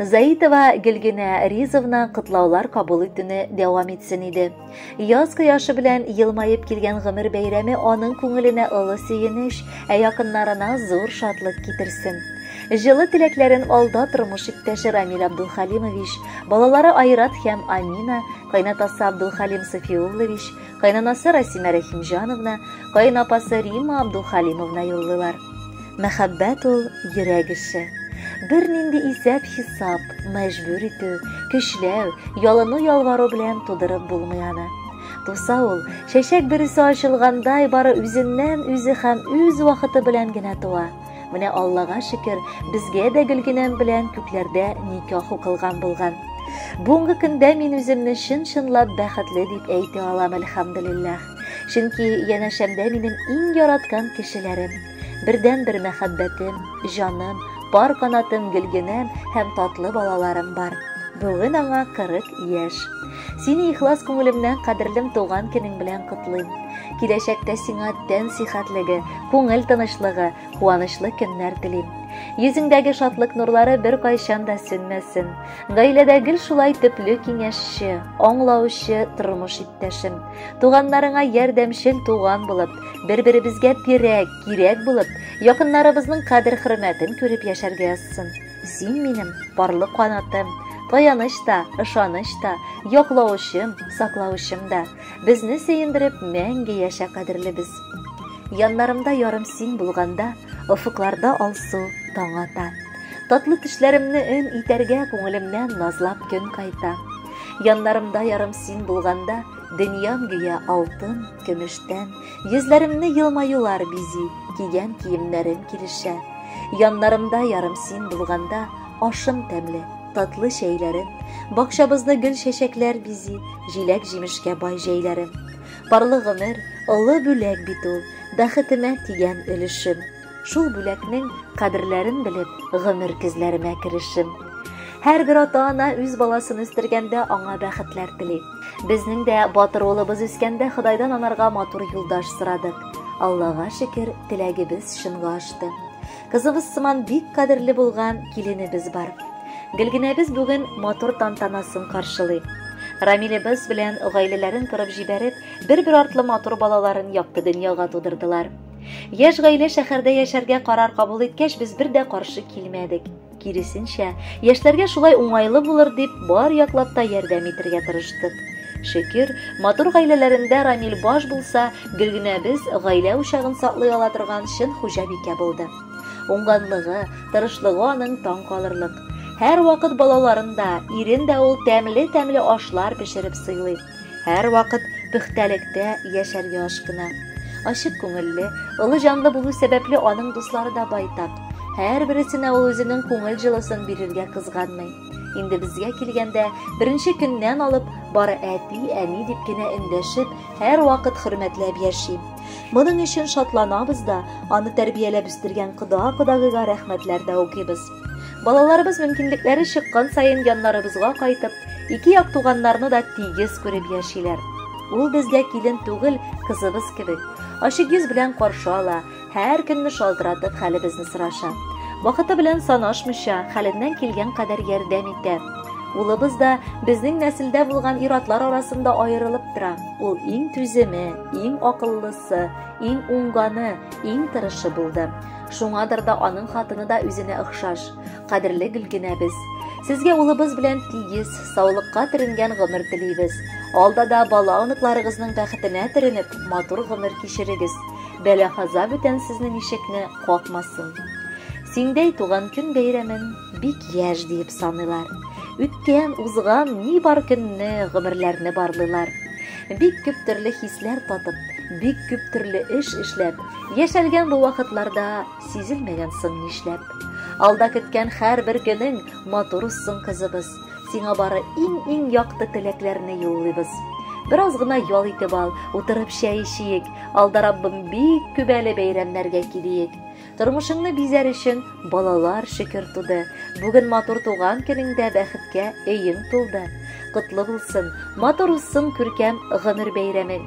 Заитова Гөлгенә Ризовна котлаулар кабул итүне дәвам итсен иде. Яз кояшы белән елмаеп килгән гомер бәйрәме аның күңеленә олы сөенеч, ә якыннарына зур шатлык китерсен. Җылы теләкләрен алда тормыш иптәше Рамил Абдулхалимович, балалары Айрат һәм Амина, кайнатасы Абдулхалим Софиуллович, кайнанасы Расимә Рәхимҗановна, кайнапасы Рима Абдулхалимовна юллыйлар. Мәхәббәт ул йөрәк эше. Бернинди исәп-хисап, мәҗбүр итү, көчләү, ялыну-ялвару белән тудырып булмый аны. Туса ул, чәчәк бересе ачылгандай, бары үзеннән үзе һәм үз вакыты белән генә туа. Менә Аллага шөкер, безгә дә Гөлгенәм белән күкләрдә никах укылган булган. Бүгенге көндә мин үземне чын-чынлап бәхетле дип әйтә алам, әлхәмдулиллаһ. Чөнки янәшәмдә минем иң яраткан кешеләрем, Бердән-бер мәхәббәтем, җаным, пар канатым Гөлгенәм һәм татлы балаларым бар. Бүген аңа 40 яшь. Сине ихлас күңелемнән кадерлем туган көнең белән котлыйм. Киләчәктә сиңа тән сихәтлеге, күңел тынычлыгы, куанычлы көннәр телим. Йөзеңдәге шатлык нурлары бер кайчан да сүнмәсен. Гаиләдә гел шулай төпле киңәшче, аңлаучы тормыш иптәшем. Туганнарыңа ярдәмчел туган булып, бер-беребезгә терәк, кирәк булып, якыннарыбызның кадер-хөрмәтен күреп яшәргә язсын. Син минем парлы канатым, таяныч та, ышаныч та, яклаучым, саклаучым да. Безне сөендереп мәңге яшә кадерлебез. Яннарымда ярым син булганда, офыкларда алсу таң ата. Татлы төшләремне өн итәргә күңелемнән назлап көн кайта. Яннарымда ярым син булганда, Дөньям гүя алтын, көмештән, Йөзләремне елмаюлар бизи, Кигән киемнәрем килешә. Яннарымда ярым син булганда, Ашым тәмле, татлы чәйләрем, Бакчабызны гөл чәчәкләр бизи, Җиләк җимешкә бай җәйләрем. Парлы гомер, олы бүләк бит ул, Бәхетемә тигән өлешем. Шул бүләкнең кадерләрен белеп, гомер көзләремә керешим. Һәрбер ата-ана үз баласын үстергәндә аңа бәхетләр тели. Безнең дә батыр улыбыз үскәндә Ходайдан анарга матур юлдаш сорадык. Аллага шөкер, теләгебез чынга ашты. Кызыбыз сыман бик кадерле булган киленебез бар. Гөлгенәбез бүген матур тантанасын каршылый. Рамилебез белән гаиләләрен корып җибәреп, бер-бер артлы матур балаларын якты дөньяга тудырдылар. Яшь гаилә шәһәрдә яшәргә карар кабул иткәч, без бер дә каршы килмәдек. Киресенчә, яшьләргә шулай уңайлы булыр дип, бар яклап та ярдәм итәргә тырыштык. Шөкер, матур гаиләләрендә Рамил баш булса, Гөлгенәбез гаилә учагын саклый ала торган чын хуҗабикә булды. Уңганлыгы, тырышлыгы аның таң калырлык. Һәр вакыт балаларын да, ирен дә ул тәмле-тәмле ашлар пешереп сыйлый. Һәрвакыт пөхтәлектә яшәргә ашкына. Ачык күңелле, олы җанлы булу сәбәпле аның дуслары да байтак. Һәрбересенә ул үзенең күңел җылысын бирергә кызганмый. Инде безгә килгәндә, беренче көннән алып, бары әти, әни дип кенә эндәшеп, һәрвакыт хөрмәтләп яши. Моның өчен шатланабыз да, аны тәрбияләп үстергән кода-кодагыйга рәхмәтләр дә укыйбыз. Балаларыбыз мөмкинлекләре чыккан саен яннарыбызга кайтып, ике як туганнарны да тигез күреп яшиләр. Ул безгә килен түгел, кызыбыз кебек. Ачык йөз белән каршы ала, һәр көнне шалтыратып хәлебезне сораша. Вакыты белән санашмыйча, хәленнән килгән кадәр ярдәм итә. Улыбыз да безнең нәселдә булган иратлар арасында аерылып тора. Ул иң түземе, иң акыллысы, иң уңганы, иң тырышы булды. Шуңадыр да аның хатыны да үзенә охшаш. Кадерле Гөлгенәбез, сезгә улыбыз белән тигез, саулыкка төренгән гомер телибез. Алда да бала оныкларыгызның бәхетенә төренеп, матур гомер кичерегез. Бәла хаза бүтән сезнең ишекне какмасын. Сиңдәй туган көн бәйрәмен бик яшь диеп саныйлар. Үткән, узган ни бар көнне, гомерләрне барлыйлар. Бик күп төрле хисләр татып, бик күп төрле эш эшләп, Яшәлгән бу вакытларда сизелмәгән соң нишләп? Алда көткән һәрбер көнең матур узсын, кызыбыз. Сиңа бары иң-иң якты теләкләрне юллыйбыз. Бераз гына ял итеп ал, утырып чәй эчиек. Алда Раббым бик күп әле бәйрәмнәргә килиек. Тормышыңны бизәр өчен балалар шөкер туды. Бүген матур туган көнеңдә бәхеткә өең тулды. Котлы булсын, матур узсын күркәм гомер бәйрәмең.